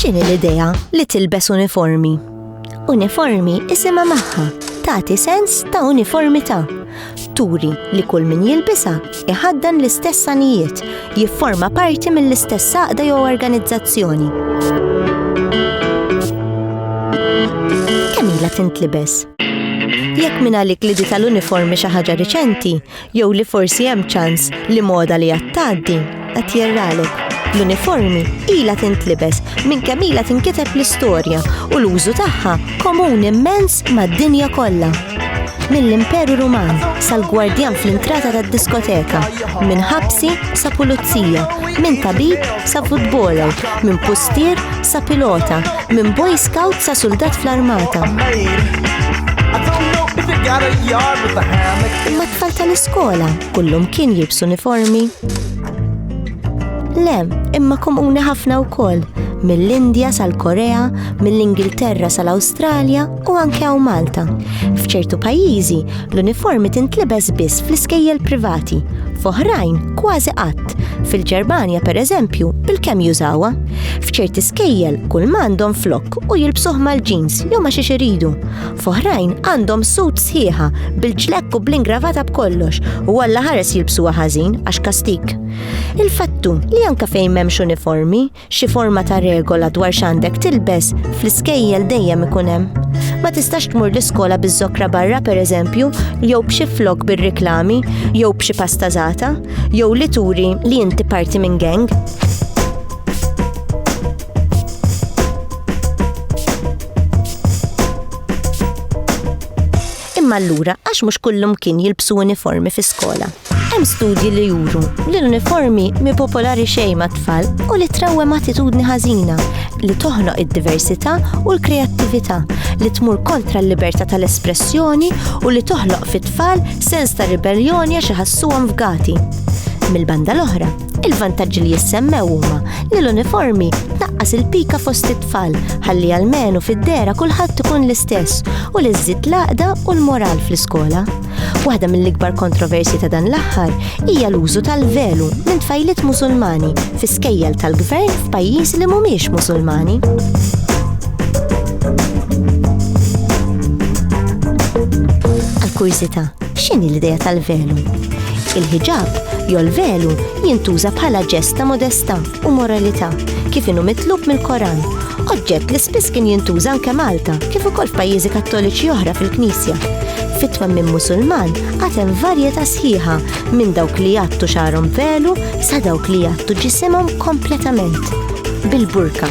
X'inhi l-idea li tilbes uniformi? Uniformi isimha magħha tagħti sens ta' uniformità. Turi li kull min jilbisa iħaddan l-istess sanijiet, jifforma parti mill-istess saqda jew organizzazzjoni. Kemm ilha tintlibes? Jekk minn għalik li di tal-uniformi xi ħaġa riċenti, Jew li forsi hemm ċans li moda li għad tgħaddi qed jirralek. L-uniformi ilha tintlibes minn kemm ilha tinkiteb l-istorja u l-użu tagħha komun immens mad-dinja kollha. Mill-Imperu Ruman sal-gwardjan fl-intrata tad-diskoteka, minn ħabsi sa pulizija, minn tabib sa futboler, minn pustier sa pilota, Minn boy scout sa suldat fl-armata. Imma tfal tal-iskola kullum kien jibs uniformi. Lem, imma komuni ħafna wkoll mill-Indja sal-Korea, mill-Ingilterra sal-Awstralja, u anke hawn Malta. F'ċertu pajjiżi, l-uniformi tintlibes biss fl-iskejjel privati, f'oħrajn kważi qatt. Fil-Ġermanja, pereżempju, il-kemm jużawha. F'ċerti skejjel kull m'għandhom flok u jilbsuh mal-ġins jew ma xiex iridu. F'oħrajn għandhom sut sħiħa bil-ġlekk u bl-ingravata b'kollox u għalla ħares jilbsuha ħażin għax kastik. Il-fattu li anka fejn m'hemmx uniformi, Xi forma ta' regola dwar x'għandek tilbes fl-iskejjel dejjem ikun hemm. Ma tistax tmur l-iskola biż-żokra barra pereżempju, jew b'xi flok bir-riklami, jew b'xi pasta żgħata, jew li turi li inti parti minn gang. Imma allura għax mhux kullum kien jilbsu uniformi fi skola. Hemm studji li juru li l-uniformi mi popolari xejn mat-tfal u li trawwem attitudni ħażina li toħnoq id-diversità u l-kreattività, li tmur kontra l-libertà tal-espressjoni u li toħloq fit-tfal sens ta' ribelljoni għax iħassuhom fgati. Mill-banda l-oħra, il-vantaġġi li jissemmew huma li l-uniformi tnaqqas il-pika fost it-tfal ħalli almenu fid-dehra kulħadd ikun l-istess u li żżid l-għaqda u l-moral fl-iskola. Waħda mill-ikbar kontroversji ta' dan l-aħħar hija l-użu tal-velu minn tfajliet Musulmani fi skejjel tal-gvern f'pajjiż li mhumiex Musulmani. Għal-kursita, x'inhi l-idea tal-velu? Il-ħiġab jew l-velu jintuża bħala ġesta modesta u moralità, kif inhu mitlub mill-Koran, oġġett li spiss kien jintuża anke Malta kif ukoll f'pajjiżi Kattoliċi oħra fil-Knisja. Fit-twemmin Musulman għad hemm varjetà sħiħa minn dawk li jgħattu xagħarhom velu sa dawk li jgħattu ġisimhom kompletament bil-burka.